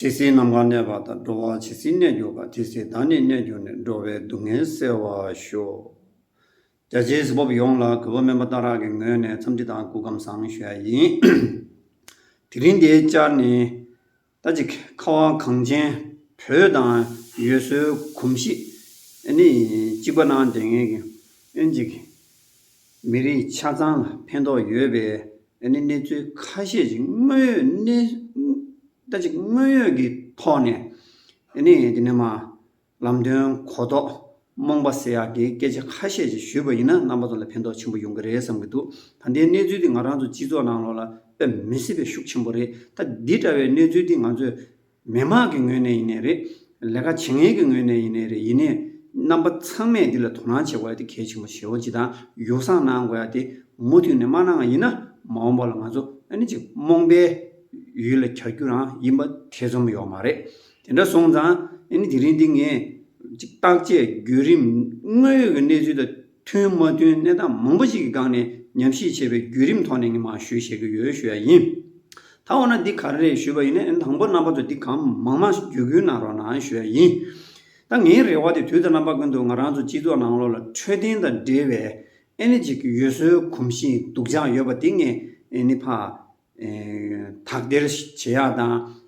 ཇི་སྲིད་ནམ་མཁའ་གནས་པ་དང་འགྲོ་བ་ཇི་སྲིད་གནས་གྱུར་པ་དེ་སྲིད་བདག་ནི་གནས་གྱུར་ནས་འགྲོ་བའི་སྡུག་བསྔལ་སེལ་བར་ཤོག། རྒྱ་ཆེའི་གཟུ་བོབ་ཡོངས་ལ་གུས་པ་སྨོན་པ་བརྟག་རག་གི་ངོས་ནས་འཚམས་འདྲི་དང་སྐུ་ཁམས་བཟང་ཞུ་ཡ་ཡིན། དེ་རིང་འདིའི་བཅར་ནི། ད་ཅིག་ཁ་བ་གངས་ཅན་བོད་དང་ཡུལ་སྲོལ་གོམས་གཤིས་ནི་གཅིག་པ་ན་འདྲེས་ངེས་ཀྱི། ཨིན་ཇིག་མི་རིགས་ཆ་ཚང་ལ་ཕན་ཐོགས་ཡོད་པའི་གནས་ཚུལ་ཁ་ཤས་ཅིག་དངོས་ཡོད་གནས། ལྟ་ཅི་དངོས་ཡོད་ཀྱི་ཐོག་ནས་ནི་དེ་ནས་མ་ལམ་དོན་གོ་རྟོགས་རྨོངས་པ་སེལ་ཡག་གི་སྐད་ཆ་ཁ་ཤས་ཅིག་ཞུས་པ་ཡིན་ན་རྣམ་པ་ཚོ་ལ་ཕན་ཐོགས་ཆེན་པོ་ཡོང་གི་རེད་བསམ་གྱི་འདུག་ད་འདིའི་གནས་ཚུལ་འདི་ང་རང་ཚོ་སྤྱི་ཚོགས་ནང་ལོགས་ལ་དཔེ་མི་སྲིད་པའི་ཤུགས་ཆེན་པོ་རེད་ད་འདི་འདྲ་བའི་གནས་ཚུལ་འདི་ང་ཚོས་མི་དམངས་ཀྱི་ངོས་ནས་ཡིན་ནའི་རེད་ལས་ཀ་བྱེད་མཁན་གྱི་ངོས་ནས་ཡིན་ནའི་རེད་ཡིན་ནའི་རྣམ་པ་ཚང་མས་འདི་ལ་དོ་སྣང་བྱེད་དགོས་ཡ་དེ་གལ་ཆེན་པོ་ཞེ་བོ་གཅིག་དང་ཡོ་བསྲང་གནང་དགོས་ཡ་དེ་མུ་མཐུད་ནས་མ་གནང་ཡིན་ན་མ་འོངས་པ་ལ་ང་ཚོ་ནི་ཅིག་རྨོངས་པའི། ཡུལ་ལ་གྱར་རྒྱུ་རང་ཡིན་པ་ཐེ་ཚོམ་ཡོད་མ་རེད། དེ་འདྲ་སོང་ཙང་དེ་རིང་འདི་ངས་ཅིག་བརྟག་དཔྱད་བརྒྱུད་རིམ་དངོས་ཡོད་ཀྱི་གནས་ཚུལ་དང་མཐུན་མ་མཐུན་གནས་སྟངས་མང་པོ་ཞིག་གི་སྒང་ནས་ཉམས་ཞིབ་བྱས་པའི་བརྒྱུད་རིམ་ཐོག་ནས་ངས་མ་ཞུ་བྱེད་ཀྱི་ཡོད་ཞུ་ཡ་ཡིན། ད་འོ་ན་འདི་ག་རེད་ཞུས་པ་ཡིན་ན་དང་པོ་རྣམ་པ་ཚོ་འདི་གང་མང་མང་བརྒྱུད་སྐུལ་གནང་རོགས་གནང་ཞུ་ཡ་ཡིན། ད་ངའི་རེ་བ་དེ་དུས་ད་རྣམ་པ་ཀུན་ཏུ་ང་རང་ཚོ་སྤྱི་ཚོགས་ནང་ལོགས་ལ་འཕྲོད་བསྟེན་དང་འབྲེལ་བའི་ཨེ་ནི་ཅིག་ཡོད་སྲོལ་གོམས་ཤིང་སྡུག་ཅག་ཡོད་པ་དེ་ངས་ཨེ་ནི་ཕ་དག་སྟེར་བྱེད་ཡག་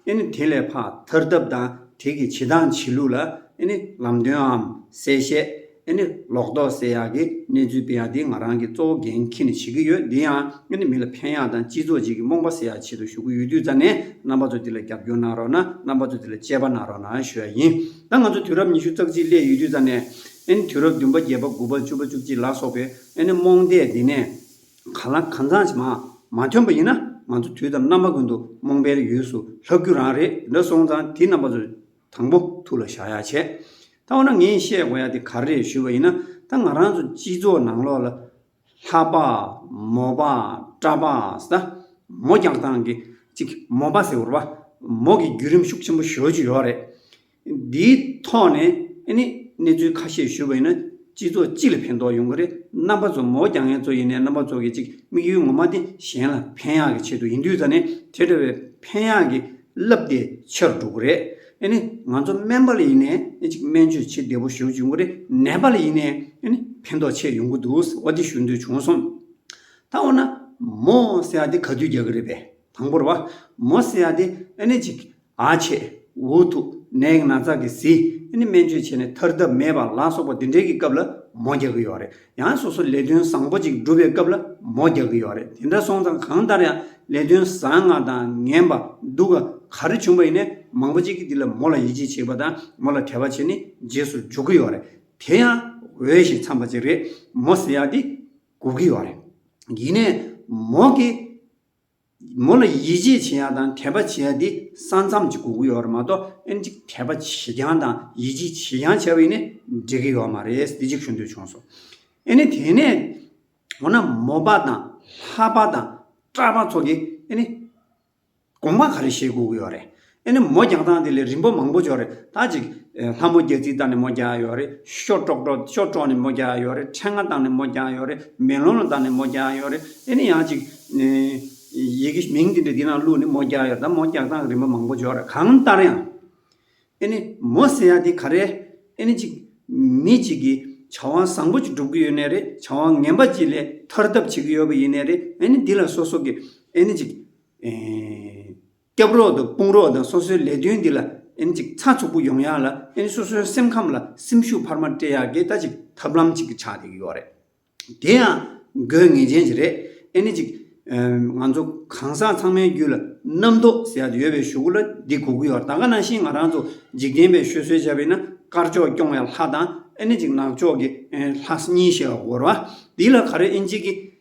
དང་དེ་ལས་ཕག་ཐར་ཐབས་དང་དེ་གི་བྱེད་སྟངས་བྱེད་ལུགས་ལ་ལམ་སྟོནའམ་གསལ་བཤད། ལོག་རྟོག་སེལ་ཡག་གི་གནས་ཚུལ་སྤེལ་ཡག་དེ་ང་རང་གི་གཙོ་བོ་འགན་འཁྱེར་ནས་བྱེད་ཀྱི་ཡོད་འདི་ཡང་མི་ལ་ཕན་ཡག་དང་སྤྱི་ཚོགས་བཅས་ཀྱི་རྨོངས་པ་སེལ་ཡག་བྱེད་དུ་ཞུགས་ཀྱི་ཡོད་དུས་རྩ་ནས་རྣམ་པ་ཚོ་འདི་ལ་རྒྱབ་སྐྱོར་གནང་རོགས་གནང་རྣམ་པ་ཚོ་འདི་ལ་དཔྱད་པ་གནང་རོགས་གནང་ཞུ་ཡག་ཡིན་ད་ང་ཚོ་དུས་རབས་ཉི་ཤུ་རྩ་གཅིག་སླེབས་ཡོད་དུས་རྩ་ནས་དུས་རབས་བདུན་པ་བརྒྱད་པ་དགུ་པ་བཅུ་པ་བཅུ་གཅིག་ལ་སོགས་པའི་རྨོངས་དད་འདི་ནས། གང་ལ་གང་འཚམས་ཞིག་མང་མ་ཐོན་པ་ཡིན་ན་ང་ཚོ་དུས་དང་རྣམ་པ་ཀུན་ཏུ་རྨོངས་པའི་ཡུལ་སུ་ལྷག་རྒྱུ་རང་རེད་འདྲ་སོང་ཙང་དེ་རྣམ་པ་ཚོ་དང་པོ་ཐུགས་ལ་བཞག་ཡ་བྱས། ད་འོ་ན་ངས་བཤད་དགོས་ཡ་དེ་ག་རེད་ཞུས་པ་ཡིན་ན་ད་ང་རང་ཚོ་སྤྱི་ཚོགས་ནང་ལོག་ལ་ལྷ་པ། མོ་པ། གྲ་པ། ཟ་མོ་རྒྱག་སྟངས་ཀྱི་གཅིག་མོ་པ་ཟེར་བ། མོ་གི་བརྒྱུད་རིམ་ཤུགས་ཆེན་པོ་ཞོལ་གྱི་ཡོག་རེད། འདིའི་ཐོག་ནས་ནི་གནས་ཚུལ་ཁ་ཤས་ཞུ་བ་ཡིན་ན་སྤྱི་ཚོགས་སྤྱི་ལ་ཕན་ཐོག་ཡོང་གི་རེད་རྣམ་པ་ཚོ་མོ་རྒྱ་ངན་ཚོ་ཡིན་ནའི་རྣམ་པ་ཚོ་གི་ཅིག་དམིགས་ཡུལ་ངོ་མ་དེ་གཞན་ལ་ཕན་ཡག་གི་ཆེད་དུ་ཡིན་དུས་ད་ནི་དེ་འདྲ་བའི་ཕན་ཡག་གི་རླབས་དེ་ཆེ་རུ་འགྲོ་གི་རེད་ཨེ་ནི་ང་ཚོ་སྨན་པ་ལ་ཡིན་ནའི་ནི་ཅིག་སྨན་བཅོས་བྱེད་བདེ་པོ་ཞུ་བྱུང་གི་རེད་ནད་པ་ལ་ཡིན་ནའི་ནི་ཕན་ཐོག་ཆེ་ཡོང་གི་འདུག་ཟེར་བ་དེ་ཞུ་འདོད་བྱུང་སོང། ད་འོ་ན་མོ་ཟེར་ཡག་དེ་ག་དུས་རྒྱག་གི་རེད་པས་དང་པོར་བ་མོ་ཟེར་ཡག་དེ་ཨེ་ནི་ཅིག་ཨ་ཆེ། འུ་ཐུག། ནད་སྣ་ཚགས་ཀྱིས་བཟི། ཨ་ནི་སྨན་བཅོས་བྱས་ནས་ཐར་ཐབས་མེད་པ་ལ་སོགས་པ་འདི་འདྲའི་གི་སྐབས་ལ་མོ་རྒྱག་གི་ཡོད་རེད། ཡང་སོ་སོ་ལས་དོན་བཟང་པོ་ཅིག་སྒྲུབ་པའི་སྐབས་ལ་མོ་རྒྱག་གི་ཡོད་རེད་དེ་འདྲ་སོང་ཙང་གང་ལྟར་ཡང་ལས་དོན་བཟང་ང་དང་ངན་པ་སྡུག་ག་ག་རེ་བྱུང་པ་ཡིན་ནའི་མང་པོ་ཅིག་གི་འདི་ལ་མོ་ལ་ཡིད་ཆེས་བྱེད་པ་དང་མོ་ལ་དད་པ་བྱེད་ནི་རྗེས་སུ་འཇུག་གི་ཡོད་རེད་དེ་ཡང་འོས་ཤིང་འཚམས་པ་ཅིག་རེད་མོ་ཟེར་ཡག་འདི་སྒུག་གི་ཡོད་རེད། ཡིན་ནའི་མོ་གི། མོ་ལ་ཡིད་ཆེས་བྱེད་ཡ་དང་དད་པ་བྱེད་ཡ་དེ་ས་མཚམས་ཀྱི་གོ་གི་ཡོད་རེད་མ་གཏོགས་ཨེ་འགྲིག་དད་པ་བྱེད་རྐྱང་དང་ཡིད་ཆེས་བྱེད་རྐྱང་བྱ་བའི་ནི་འགྲིག་གི་ཡོད་མ་རེད་དེ་གཅིག་ཞུ་འདོད་བྱུང་སོང། ཨེ་ནི་དེ་ནས་འོ་ན་མོ་པ་དང་ལྷ་པ་དང་སྐྲ་པ་ཚོ་གི་ཨེ་ནི་དགོངས་པ་ག་རེ་བཞེས་དགོས་གི་ཡོད་རེད། ཨེ་ནི་མོ་རྒྱག་སྟངས་དེ་ལས་རིམ་པ་མང་པོ་འབྱོར་རེད་ད་ཅིག། ལྷ་མོ་རྒྱལ་རྩིས་བཏང་ནས་མོ་རྒྱག་ཡོད་རེད། ཤོ་ཀྲོག་ཀྲོག་ཤོ་ཀྲོག་ནས་མོ་རྒྱག་ཡོད་རེད། འཕྲེད་ང་བཏང་ནས་མོ་རྒྱག་ཡོད་རེད། མེ་ལོང་ལ་བཏང་ནས་མོ་རྒྱག་ཡོད་རེད། ཨེ་ནི་ཡང་ཅིག། ཡི་གེ་མིང་དེ་འདྲ་འདི་ནང་བླུགས་ནས་མོ་རྒྱག་ཡོད་རེད་ད་མོ་རྒྱག་སྟངས་རིམ་པ་མང་པོ་འབྱོར་རེད་གང་ལྟར་ཡང། ཨེ་ནི་མོ་ཟེར་ཡ་དེ་ག་རེད། ཨེ་ནི་ཅིག། མི་ཅིག་གིས་བྱ་བ་བཟང་པོ་ཅིག་སྒྲུབ་ཀྱི་ཡོད་ནི་རེད་བྱ་བ་ངན་པ་ཅིག་ལས་ཐར་ཐབས་བྱེད་ཀྱི་ཡོད་པ་ཡིན་ནི་རེད་ཨེ་ནི་འདི་ལ་སོ་སོ་གིས་ཨེ་ནི་ཅིག། སྐྱབས་རོགས་དང་དཔུང་རོགས་དང་སོ་སོའི་ལས་དོན་འདི་ལ་ཨེན་ཅིག་ཚ་ཚུགས་པོ་ཡོང་ཡག་ལ་ཨེན་སོ་སོའི་སེམས་ཁམས་ལ་སེམས་ཤུགས་འཕར་མ་སྤྲད་ཡག་གི་ད་ཅིག་ཐབས་ལམ་ཅིག་གི་ཆགས་ཡོད་རེད། དེ་ཡང་དགོས་ངེས་ཅན་ཞིག་རེད་ཨེན་ཅིག། ང་ཚོ་གང་ཟག་ཚང་མའི་རྒྱུད་ལ་རྣམ་རྟོག་ཟེར་ཡག་ཡོད་པའི་ཞུ་གུ་ལ་འདི་གོ་གི་ཡོད་རེད་ད་ག་ནང་བཞིན་ང་རང་ཚོ་འཇིག་རྟེན་པའི་ཤོད་སྲོལ་བྱས་པས་ན་དཀར་ཕྱོགས་སྐྱོང་བའི་ལྷ་དང་ཨེན་ཅིག་ནག་ཕྱོགས་ཀྱི་ལྷ་གཉིས་ཞེས་པ་གོ་རེད་བ། འདི་ལ་ག་རེ་ཨེན་ཅིག་གིས་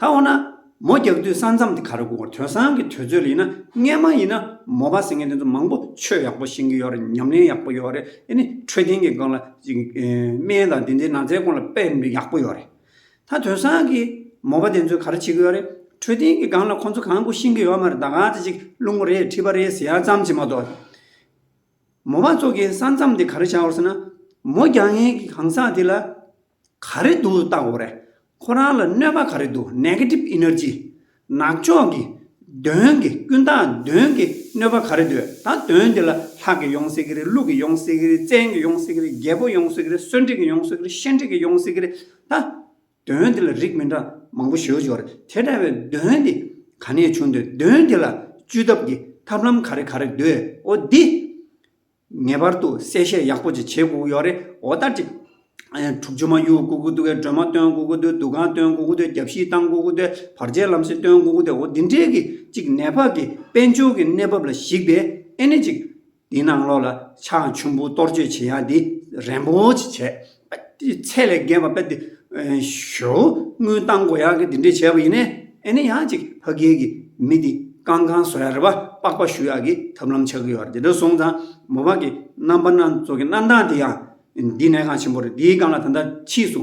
ད་འོ་ན། མོ་རྒྱག་དུས་ས་མཚམས་དེ་ག་རེ་དགོས་དོན་སང་གི་དུས་ཚོད་ལ་ཡིན་ན་རྔན་མ་ཡིན་ན་མོ་བ་ཟེར་མཁན་དེ་ཚོ་མང་པོ་ཆོས་ཡག་པོ་ཤེས་ཀྱི་ཡོད་རེད་ཉམས་ལེན་ཡག་པོ་ཡོད་རེད་ཨེ་ནི་འཕྲོད་བསྟེན་གྱི་སྒང་ལ་སྨན་དང་དེ་འདྲའི་ན་ཚའི་སྐོར་ལ་དཔེ་མི་ཡག་པོ་ཡོད་རེད། ད་དོན་སང་གི་མོ་བ་དེ་ཚོས་ག་རེ་བྱེད་ཀྱི་ཡོད་རེད་འཕྲོད་བསྟེན་གྱི་སྒང་ལ་ཁོ་ཚོ་གང་དགོས་ཤེས་ཀྱི་ཡོད་མ་རེད་ད་ག་ཚོད་ཅིག་བླུན་པོ་རེད་ཁྲི་པ་རེད་ཟེར་ཡ་ཙམ་གྱིས་མ་གཏོགས། མོ་བ་ཚོ་གིས་ས་མཚམས་དེ་ག་རེ་བྱའོ་ཟེར་ན། མོ་རྒྱག་མཁན་གྱི་གང་ཟག་དེ་ལ་ག་རེ་འདུག་ལྟ་འོ་རེད། ཁོ་རང་ལ་གནོད་པ་ག་རེ་འདུག Negative Energy། ནག་ཕྱོགས་ཀྱི་གདོན་གྱི་ཀུན་བཏགས་གདོན་གྱི་གནོད་པ་ག་རེ་འདུག་ད་གདོན་འདི་ལ་ལྷག་གི་ཡོང་སྲིད་ཀྱི་རེད་ལུག་གི་ཡོང་སྲིད་ཀྱི་རེད་བཙན་གྱི་ཡོང་སྲིད་ཀྱི་རེད་རྒྱལ་པོ་ཡོང་སྲིད་ཀྱི་རེད་གསོན་འཁྲིག་གི་ཡོང་སྲིད་ཀྱི་རེད་ཤན་འཁྲིག་གི་ཡོང་སྲིད་ཀྱི་རེད་ད་གདོན་འདི་ལ་རིགས་མི་འདྲ་མང་པོ་ཞོ་ཞོ་རེད་དེ་འདྲ་བའི་གདོན་འདི་ག་ནས་བྱུང་འདོད་གདོན་འདི་ལ་བཅོས་ཐབས་ཀྱི་ཐབས་ལམ་ག་རེ་ག་རེ་འདོད་འོ་འདི། ངེས་པར་དུ་གསལ་བཤད་ཡག་པོ་ཅིག་བྱེད་དགོས་ཀྱི་ཡོད་རེད་འོ་ད་ཅིག། དྲུག་ཅུ་མ་གཡུག་དགོས་ཀྱི་འདུག་གས་སྒྲོལ་མ་སྟོན་དགོས་ཀྱི་འདུག་འདུ་ཁང་སྟོན་དགོས་ཀྱི་འདུག་རྒྱབ་གཞིས་བཏང་དགོས་ཀྱི་འདུག་བར་ཆད་ལམ་སེང་སྟོན་དགོས་ཀྱི་འདུག་འོ་འདི་འདྲའི་གི་ཅིག་ནད་ཕག་གི་དཔལ་འབྱོར་གི་གནས་བབ་ལ་གཞིགས་པས་ཨེ་ནས་ཅིག། འདི་ནང་ལོགས་ལ་ཕྱག་མཆུན་བུ་གཏོར་བཅོས་བྱེད་ཡ་འདི་རན་པོ་ཅིག་བྱས། ཚད་ལས་བརྒལ་བ་པདྨ་ཞོ་དངུལ་བཏང་གོ་ཡག་གི་དེ་འདྲས་བྱས་པ་ཡིན། ཨེ་ནས་ཡང་ཅིག་ཕ་རྒན་གྱི་མི་དེ་ཀང་ཀང་བཟོ་ཡག་རེད་པ་པགས་པ་བཞུ་ཡག་གི་ཐབས་ལམ་ཆགས་གི་ཡོད་རེད་དེ་འདྲ་སོང་ཙང་མོ་བག་གི་རྣམ་པ་སྣ་ཚོགས་ཀྱི་རྣམ་སྟངས་དེ་ཡང་འདི་ནས་ཀང་ཆེན་པོ་རེད་དེའི་ཀང་ལ་ད་ལྟ་ཕྱིས་སུ་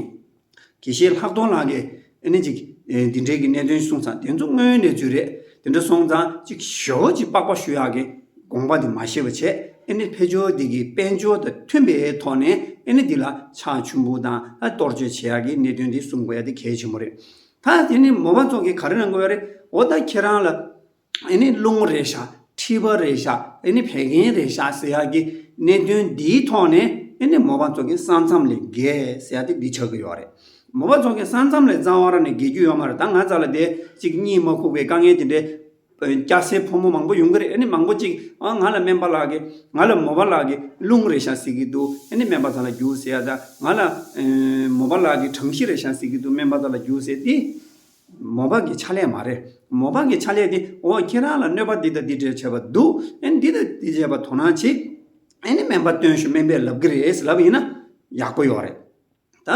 དགེ་བཤེས་ལྷག་མཐོང་ལགས་ཀྱི་ཨེ་ནི་ཅིག། འདི་འདྲའི་གི་གནད་དོན་གསུངས་ཙང་དེ་ཚོ་དངོས་ཡོད་གནས་ཚུལ་རེད། དེ་འདྲ་སོང་ཙང་ཅིག་ཞོ་ཅིག་པགས་པ་ཞུ་ཡག་གི་དགོངས་པ་དེ་མ་ཤེས་པ་བྱས། ཨེ་ནི་ཕལ་ཆོལ་འདི་གི་དཔལ་འབྱོར་དང་མཐུན་པའི་ཐོག་ནས་ཨེ་ནི་འདི་ལ་ཕྱག་ཆུན་པོ་དང་གཏོར་བཅོལ་བྱེད་ཡག་གི་གནད་དོན་དེ་གསུང་དགོས་ཡག་དེ་གལ་ཆེན་པོ་རེད། ད་དེ་ནི་མོ་པ་ཚོགས་ཀྱིས་ག་རེ་གནང་དགོས་ཡག་རེད། འོ་ད་ཁྱེད་རང་ལ། ཨེ་ནི་རླུང་རེ་བཞག་མཁྲིས་པ་རེ་བཞག་ཨེ་ནི་བད་ཀན་རེ་བཞག་ཟེར་ཡག་གི་གནད་དོན་འདིའི་ཐོག་ནས་ཨེ་ནི་མོ་པ་ཚོ་གི་ས་མཚམས་ལས་བརྒལ་ཟེར་ཡག་དེ་འདི་ཆགས་ཀྱི་ཡོག་རེད། མོ་པ་ཚོ་གི་ས་མཚམས་ལས་རྩ་བ་ར་ནས་བརྒལ་རྒྱུ་ཡོག་མ་རེད་ད་ང་ཚ་ལ་དེ་གཅིག་གཉིས་མ་ཁུག་པའི་དཀའ་ངལ་དེ་འདྲའི་སྐྱ་སེར་ཕོ་མོ་མང་པོ་ཡོང་གི་རེད་ཨེ་ནི་མང་པོ་གཅིག་ཨ་ང་ལ་སྨན་པ་ལགས་ཀྱི་ང་ལ་མོ་པ་ལགས་ཀྱི་རླུང་རེ་བཞག་ཟེར་གྱི་འདུག་ཨེ་ནི་སྨན་པ་ཚ་ལ་རྒྱུགས་ཟེར་ཡག་ད་ང་ལ་མོ་པ་ལགས་ཀྱི་གྲང་གཞི་རེ་བཞག་ཟེར་གྱི་འདུག་སྨན་པ་ཚ་ལ་རྒྱུགས་ཟེར་དེ། མོ་བག་གི་ཕྱག་ལས་མ་རེད། མོ་བག་གི་ཕྱག་ལས་དེ་འོ་ཁྱེད་རང་ལ་གནོད་པ་འདི་དང་འདི་འདྲས་བྱས་པ་འདུག་ཨེ་འདི་དང་འདི་བྱས་པ་དོ་སྣང་བྱེད། ཨེ་ནི་སྨན་པ་སྟོན་ཞོ་སྨན་པས་ལབ་གི་རེད་ལབ་ཡིན་ན་ཡག་པོ་ཡོག་རེད། ད་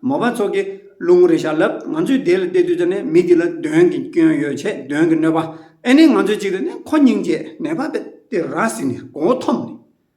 མོ་བག་ཚོགས་ཀྱི་བླུན་ངོ་རེ་བཞག་ལབ་ང་ཚོས་དེ་ལ་བལྟས་དུས་ད་ནི་མི་དེ་ལ་གདོན་གྱི་སྐྱོན་ཡོད་ཆེ་གདོན་གྱི་གནོད་པ་ཨེ་ནི་ང་ཚོས་ཅིག་ལ་ནི་ཁོ་སྙིང་རྗེ་ནད་པ་དེ་ར་བཟི་ནས་མགོ་བོ་འཐོམས་ནས།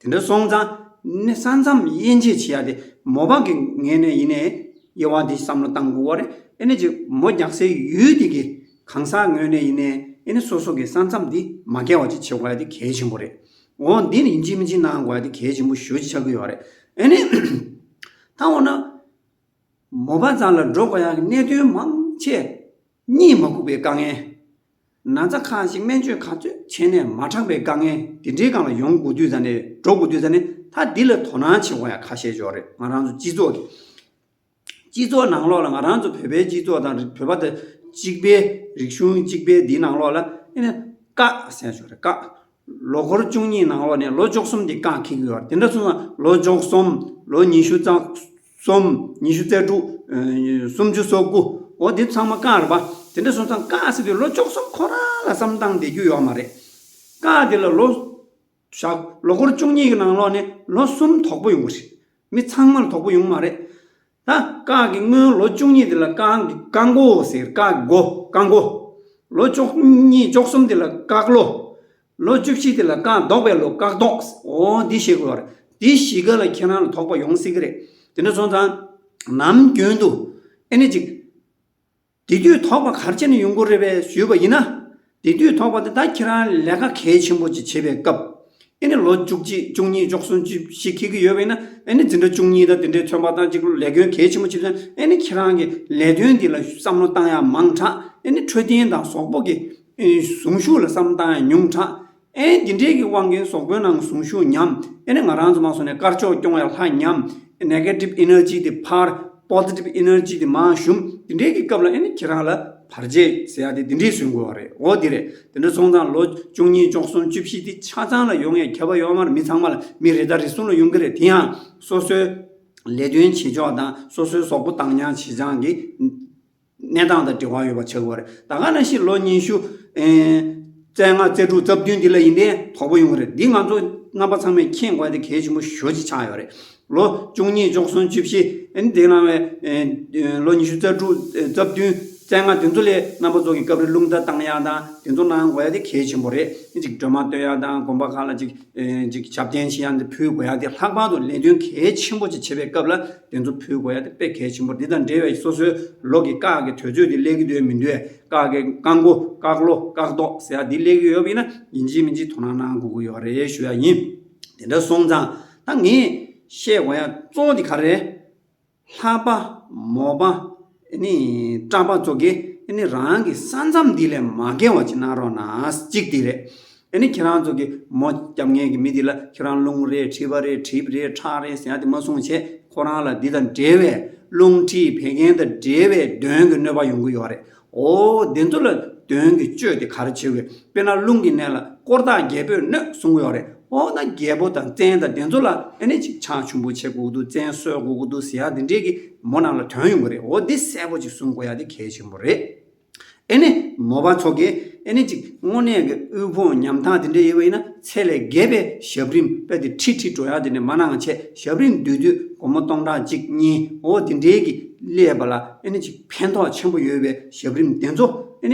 དེ་འདྲ་སོང་ཙང་ནི་ས་མཚམས་དབྱེ་འབྱེད་བྱེད་ཡག་སྟེ་མོ་བག་གི་ངེས་ནས་ཡིན་ནས་དབྱེ་བ་འདི་བསམ་བློ་གཏང་དགོས་བ་རེད་ཨེ་ནས་ཀྱི་མོ་རྒྱག་སའི་ཡུལ་དེ་གི་གང་ཟག་ངོས་ནས་ཡིན་ནས་ཨེ་ནས་སོ་སོ་གི་ས་མཚམས་དེ་མ་བརྒལ་བ་ཅིག་བྱེད་དགོས་ཡ་དེ་གལ་ཆེན་པོ་རེད་འོ་འདི་ནི་ཡིན་གཅིག་མིན་གཅིག་གནང་དགོས་ཡ་དེ་གལ་ཆེན་པོ་ཞོད་ཅིག་ཆགས་ཀི་ཡོད་རེད་ཨེ་ནས་ད་འོ་ན་མོ་བག་ཙང་ལ་འགྲོ་དགོས་ཡ་གི་གནད་དོན་མང་ཆེ་གཉིད་མ་ཁུག་པའི་དཀའ་ངལ། ན་ཚ་གང་ཞིག་སྨན་བཅོས་ག་ཚོད་བྱས་ནས་མ་དྲག་པའི་དཀའ་ངལ་དེ་འདྲའི་སྒང་ལ་ཡོང་དགོས་དུས་ཙམ་ནས་འགྲོ་དགོས་དུས་ཙམ་ནས་ད་འདི་ལ་དོ་སྣང་བྱེད་དགོས་ཡ་ཁ་བཤད་ཞོར་རེད་ང་རང་ཚོ་སྤྱི་ཚོགས་ཀྱི། སྤྱི་ཚོགས་ནང་ལོགས་ལ་ང་རང་ཚོ་བོད་པའི་སྤྱི་ཚོགས་དང་བོད་པ་དང་གཅིག་པའི་རིག་གཞུང་གཅིག་པའི་འདིའི་ནང་ལོགས་ལ་ཨེ་ན་དཀའ་བཤད་ཞོར་རེད་དཀའ། ལོ་འཁོར་བཅུ་གཉིས་ནང་འོག་ནས་ལོ་བཅོ་གསུམ་དེ་རྐང་འཁེལ་དགོས་བར་དེ་འདྲ་སོང་ན་ལོ་བཅོ་གསུམ། ལོ་ཉི་ཤུ་རྩ་གསུམ། ཉི་ཤུ་རྩ་དྲུག། སུམ་ཅུ་སོ་དགུ། འོ་དེ་ཚང་མ་རྐང་རེད་པ། དེ་འདྲ་སོང་ཙང་རྐང་ཟེར་དུས་ལོ་བཅོ་གསུམ་ཁོ་རང་ལ་བསམ་སྟངས་བསྡད་རྒྱུ་ཡོད་མ་རེད། རྐང་དེ་ལ་ལོ། ཞག་ལོ་འཁོར་བཅུ་གཉིས་ཀྱི་ནང་ལོག་ནས་ལོ་གསུམ་དོག་པོ་ཡོང་གི་རེད། མི་ཚང་མར་དོག་པོ་ཡོང་གི་མ་རེད། ད་སྐག་གི་སྔོན་ལོ་བཅུ་གཉིས་དེ་ལ་སྐག་གི་སྐག་མགོ་ཟེར་སྐག་གི་མགོ་སྐག་མགོ། ལོ་བཅུ་གཉིས་བཅུ་གསུམ་དེ་ལ་སྐག་ལོ། ལོ་བཅུ་བཞི་དེ་ལ་སྐག་བཟློག་པའི་ལོ་སྐག་བཟློག། ཨོ་འདི་ཤེས་དགོས་པ་རེད། འདི་བཞི་ཀ་ལ་ཁྱེད་རང་ལ་དོགས་པ་ཡོང་སྲིད་ཀྱི་རེད། དེ་འདྲ་སོང་ཙང། ནམ་རྒྱུན་དུ། ཨེ་ནི་ཅིག། དེ་དུས་དོགས་པ་གར་བྱས་ནས་ཡོང་གི་རེད་པས་ཞུས་པ་ཡིན་ན། དེ་དུས་དོགས་པ་དེ་ད་ཁྱེད་རང་ལས་ཀ་གལ་ཆེན་པོ་ཅིག་བྱེད་པའི་སྐབས། ཨེ་ནི་ལོ་བཅུ་གཅིག་བཅུ་གཉིས་བཅུ་གསུམ་ཅིག་ཞིག་ཁེལ་གྱི་ཡོད་པ་ཡིན་ན། ཨེ་ནི་འཛིན་གྲྭ་བཅུ་གཉིས་དང་དེ་འདྲའི་ཚོན་པ་དང་ཅིག་ལས་དོན་གལ་ཆེན་པོ་བྱེད་དོན་ཨེ་ནི་ཁྱེད་རང་གི་ལས་དོན་འདི་ལ་བསམ་བློ་བཏང་ཡག་མང་དྲགས་ཨེ་ནི་འཕྲོད་བསྟེན་དང་ཟོག་པོ་གི་གཟུངས་གཞུག་ལ་བསམ་བློ་བཏང་ཡག་ཉུང་དྲགས་ཨེ་འདི་འདྲས་ཀྱི་དབང་གིས་ཟོག་པོའི་ནང་གཟུངས་ཞུགས་ཉམས་ཨེ་ནས་ང་རང་ཚོ་མ་སོང་ནས་དཀར་ཕྱོགས་སྐྱོང་བའི་ལྷ་ཉམས་ཨེ Negative Energy དེ་ཕར Positive Energy དེ་མར་ཞུམ་འདི་འདྲས་ཀྱི་སྐབས་ལ་ཨེ་ནས་ཁྱེད་རང་ལ་བར་རྗེས་ཟེར་ཡག་དེ་འདི་འདྲས་བཟོས་དགོས་བ་རེད་འོ་དེ་རེད་དེ་འདྲ་སོང་ཙང་ལོ་བཅུ་གཉིས་བཅོ་གསུམ་བཅུ་བཞི་དེ་ཆ་ཚང་ལ་ཡོང་ཡས་ཁྱབ་པ་ཡོད་མར་མི་ཚང་མ་ལ་མི་རེ་དང་རེ་གསུམ་ལ་ཡོང་གི་རེད་དེ་ཡང་སོ་སོའི་ལས་དོན་བྱེད་ཕྱོགས་དང་སོ་སོའི་ཟོག་པོ་བཏང་རྐྱང་བྱེད་རྐྱང་གི། གནས་སྟངས་དང་འབྲེལ་བ་ཡོད་པ་ཆགས་ཀྱི་རེད། ད་ག་ན་ཤི་ལོ་ཉི་ཤུ་རྩེ་ལྔ་རྩེ་དྲུག་རྩ་བདུན་འདི་ལ་ཡིན་ཏེ་དོགས་པོ་ཡོང་གི་རེད། འདི་ང་ཚོ་རྣམ་པ་ཚང་མས་མཁྱེན་དགོས་ཏེ་གལ་ཆེན་པོ་ཤོས་གཅིག་ཆགས་ཡོད་རེད། ལོ་བཅུ་གཉིས་བཅུ་གསུམ་བཅུ་བཞི་འདི་ལ་བའི་ལོ་ཉི་ཤུ་རྩ་དྲུག་རྩ་བདུན་རྩེ་ལྔ་དེ་ཚོ་ལས་རྣམ་པ་ཚོ་གི་སྐབས་རེ་རླུང་རྟ་བཏང་ཡག་དང་དེ་ཚོ་གནང་དགོས་ཡག་དེ་གལ་ཆེན་པོ་རེད། གཅིག་སྒྲོལ་མ་སྟོན་ཡག་དང་དགོན་པ་ཁག་ལ་གཅིག། ཅིག་ཞབས་བརྟན་ཞེས་ཡང་དེ་ཕུལ་དགོས་ཡ་དེ་ལྷག་པར་དུ་ལས་དོན་གལ་ཆེན་པོ་ཅིག་བྱེད་པའི་སྐབས་ལ་དེ་ཚོ་ཕུལ་དགོས་ཡ་དེ་དཔེ་གལ་ཆེན་པོ་འདི་དང་འབྲེལ་བའི་སོ་སོའི་ལོགས་ཀྱི་བཀག་གི་དོད་ཚོད་འདི་གླེགས་ཀྱི་འདོད་མི་འདོད་བཀག་གི་བཀག་མགོ་བཀག་ལོ་བཀག་ཏོག་ཟེར་ཡ་འདི་གླེགས་ཀྱི་ཡོད་པ་ཡིན་ན་ཡིན་གཅིག་མིན་གཅིག་དོ་སྣང་གནང་དགོས་ཀྱི་ཡོད་རེད་ཞུ་ཡ་ཡིན། དེ་འདྲ་སོང་ཙང་ད་ངས་བཤད་དགོས་ཡ་གཙོ་བོ་འདི་ག་རེད། ལྷ་པ། མོ་པ། སྐྲ་པ་ཚོ་གིས་རང་གི་ས་མཚམས་འདི་ལས་མ་བརྒལ་བ་ཅིག་གནང་རོགས་གནང་གཅིག་དེ་རེད། ཁྱེད་རང་ཚོ་གིས་མོ་སྐྱབས་ངན་གྱི་མི་དེ་ལ་ཁྱོད་རང་རླུང་རེད་མཁྲིས་པ་རེད་གྲིབ་རེད་ཁྲག་རེད་ཟེར་ཏེ་མ་གསུང་བྱས་ཁོ་རང་ལ་འདི་དང་འབྲེལ་བའི་རླུང་མཁྲིས་བད་ཀན་དང་འབྲེལ་བའི་གདོན་གྱི་གནོད་པ་ཡོང་གི་ཡོད་རེད། ཨོ་བདེ་འདུ་ལ་དོན་གྱི་སྤྱོད་དེ་གར་བྱེད་དགོས་དཔེར་ན་རླུང་གི་གནད་ལ་དཀོར་བདག་རྒྱལ་པོས་སྣོད་བསྲུང་ཡོག་རེད་ཨོ་ན་རྒྱལ་པོ་དང་བཙན་དང་བདེ་འདུ་ལ་ཨེ་ནས་ཅིག་ཆང་ཆུང་པོ་བྱེད་དགོས་ཀྱི་འདུག་བཙན་གསོལ་དགོས་ཀྱི་འདུག་ཟེར་ཡག་འདི་འདྲས་ཀྱི་མོ་རྣམས་ལ་དོན་ཡོང་གི་རེད་ཨོ་འདི་གསལ་པོ་ཅིག་གསུང་དགོས་ཡག་འདི་གལ་ཆེན་པོ་རེད། ཨེ་ནས་མོ་པ་ཚོ་གིས་ཨེ་ནས་ཅིག་དངོས་གནས་ཀྱི་དབུལ་ཕོངས་ཉམ་ཐག་འདི་འདྲས་ཡོད་པ་ཡིན་ན་ཚད་ལས་བརྒལ་པའི་ཞབས་རིམ་དཔེ་དེ་ཁྲི་ཁྲི་འགྲོ་ཡག་འདི་འདྲས་མ་གནང་ཆེད་ཞབས་རིམ་བསྡུས་དུས་སྒོར་མོ་སྟོང་ཕྲག་གཅིག་གཉིས་ཨོ་འདི་འདྲས་ཀྱི་སླེབས་པ་ལ་ཨེ་ནས་ཅིག། ཕན་ཐོགས་ཆེན་པོ་ཡོད་པའི་ཞབས་རིམ་དེ་ཚོ་བྱེད་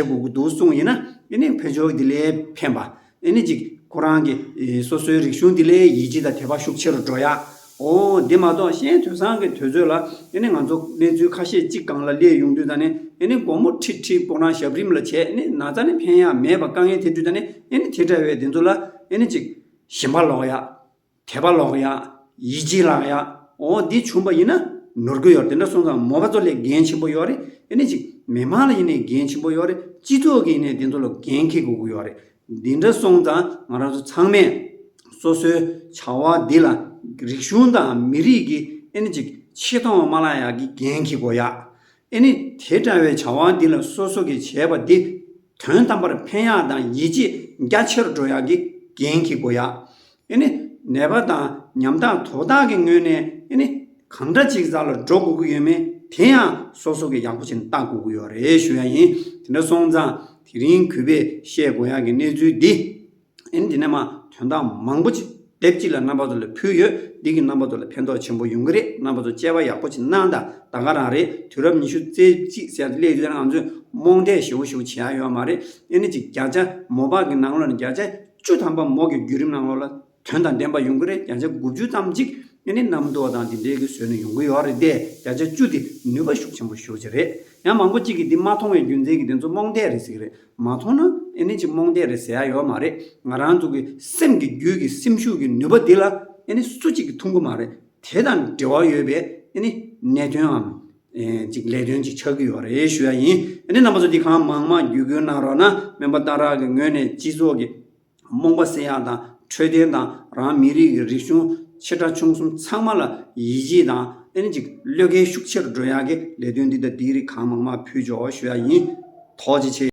དགོས་ཀྱི་འདུག་གསུངས་ཡིན་ན་བོད་ཆོལ་འདི་ལས་ཕན་པ་ཅིག་ཁོ་རང་གི་སོ་སོའི་རིག་གཞུང་འདི་ལས་ཡིད་ཆེས་དང་དད་པ་ཤུགས་ཆེ་རུ་འགྲོ་ཡ། འོ་དེ་མ་གཏོགས་གཞན་དོན་བཟང་གི་དོལ་ཚོད་ལ་ང་ཚོ་གནས་ཚུལ་ཁ་ཤས་ཅིག་གང་ལ་སླེབས་ཡོང་དུས་དང་སྒོར་མོ་ཁྲི་ཁྲི་སྤོག་རང་ཞབས་རིམ་ལ་བྱས་ན་ཙ་ནི་ཕན་ཡག་མེད་པ་དཀའ་ངལ་དེ་དུས་དང་དེ་འདྲ་བའི་དེ་ཚོ་ལ་ཅིག་ཞིམ་པ་ལོག་ཡ། དད་པ་ལོག་ཡ། ཡིད་ཆེས་ལག་ཡ། འོ་འདི་བྱུང་བ་ཡིན་ན་ནོར་གི་ཡོད་དེ་འདྲ་སོང་ཙང་མོ་བ་ཚོ་ལས་འགན་ཆེན་པོ་ཡོད་རེད་ཨེ་ནས་ཅིག་མི་མང་ལ་ཡིན་ནས་འགན་ཆེན་པོ་ཡོད་རེད་སྤྱི་ཚོགས་ཀྱི་ཡིན་ནས་དེ་ཚོ་ལ་འགན་ཁེ་དགོས་ཀྱི་ཡོད་རེད་འདི་འདྲ་སོང་ཙང་ང་རང་ཚོ་ཚང་མས་སོ་སོའི་བྱ་བ་འདི་ལ་རིག་གཞུང་དང་མི་རིགས་ཀྱི་ཨེ་ནས་ཅིག་ཆེ་མཐོང་བ་མ་ལག་ཡག་གི་འགན་ཁེ་དགོས་ཡ། ཨེ་ནས་དེ་འདྲ་བའི་བྱ་བ་འདི་ལ་སོ་སོ་གི་བྱས་པ་འདི། དོན་དམ་པར་ཕན་ཡག་དང་ཡིད་ཆེས་རྒྱ་ཆེར་འགྲོ་ཡག་གི་འགན་གྱི་སྒོ་ཡག་ནད་པ་དང་ཉམ་ཐག་དོ་བདག་གི་ངོས་ནས་གང་འདྲ་ཅིག་བཟའ་ལ་འགྲོ་དགོས་ཀྱི་ཡོད་མེད་དེ་ཡང་སོ་སོ་གི་ཡག་པོ་བྱིན་བརྟག་དགོས་ཀྱི་ཡོད་རེད་ཞུ་ཡག་ཡིན་དེ་འདྲ་སོང་ཙང་དེ་རིང་གུས་པས་བཤད་དགོས་ཡག་གི་གནས་ཚུལ་འདི། ཨེ། འདི་ནས་མ་དོན་དག་མང་པོ་ཅིག་དེབ་གཅིག་ལ་རྣམ་པ་ཚོ་ལ་ཕུལ་ཡོད། འདི་གིས་རྣམ་པ་ཚོ་ལ་ཕན་ཐོགས་ཆེན་པོ་ཡོང་གི་རེད་རྣམ་པ་ཚོ་དཔྱད་པ་ཡག་པོ་ཅིག་གནང་དང་ད་ག་རང་རེད་དུས་རབས་ཉི་ཤུ་རྩེ་གཅིག་ཟེར་སླད་དུས་རང་ཚོས་རྨོངས་དད་ཞེ་བོ་ཞིག་བྱེད་ཡག་ཡོད་མ་རེད་ཨེ། གཅིག་བརྒྱ་ཆ་མོ་པག་གི་ནང་ལོག་ནས་བརྒྱ་ཆ་བཅུ་ཐམ་པ་མོག་གི་བརྒྱུད་རིམ་ནང་ལོག་ལ་དོན་དང་ལྡན་པ་ཡོང་གི་རེད་བརྒྱ་ཆ་དགུ་བཅུ་ཙམ་ཅིག་ཨེ་ནི་རྣམ་རྟོག་དང་དེ་འདྲའི་གི་བཟོས་ནས་ཡོང་གི་ཡོད་རེད་དེ་བརྒྱ་ཆ་བཅུ་དེ་ནུས་པ་ཤུགས་ཆེན་པོ་ཤོར་ཅིག་རེད་ཡང་མང་པོ་ཅིག་གིས་འདི་མ་མཐོང་བའི་རྒྱུ་མཚན་གྱིས་དེ་ཚོ་རྨོངས་དད་རེད་ཟེར་གི་རེད་མ་མཐོང་ན་ཨེ་ནས་ཀྱི་རྨོངས་དད་རེད་ཟེར་ཡག་ཡོད་མ་རེད་ང་རང་ཚོ་གི་སེམས་ཀྱི་རྒྱུད་ཀྱི་སེམས་ཤུགས་ཀྱི་ནུས་པ་འདི་ལ་ཨེ་ནས་སུ་གཅིག་གི་ཐུགས་མགོ་མ་རེད་དེ་དང་འབྲེལ་བ་ཡོད་པའི་ཨེ་ནས་གནད་དོན་འམ་ཅིག་ལས་དོན་ཅིག་ཆགས་ཀྱི་ཡོད་རེད་ཞུ་ཡག་ཡིན་ཨེ་ནས་རྣམ་པ་ཚོ་འདི་གང་མང་མང་བརྒྱུད་སྐུལ་གནང་རོགས་གནང་མོན་པ་རྟ་རག་གི་ངོས་ནས་སྤྱི་ཚོགས་ཀྱི། རྨོངས་པ་བསད་ཡག་དང་འཕྲོད་བསྟེན་དང་རང་མི་རིགས་ཀྱི་རིག་གཞུང་ཆེ་ཕྲ་ཆུང་གསུམ་ཚང་མ་ལ་ཡིད་ཆེས་དང་ཨེན་ཅིག་བློས་འགེལ་ཤུགས་ཆེར་འགྲོ་ཡག་གི་ལས་དོན་འདི་དང་འདིའི་རིགས་གང་མང་མང་ཕུལ་འཇོག་ཞུ་ཡག་ཡིན་དོགས་ཅི་ཆེ།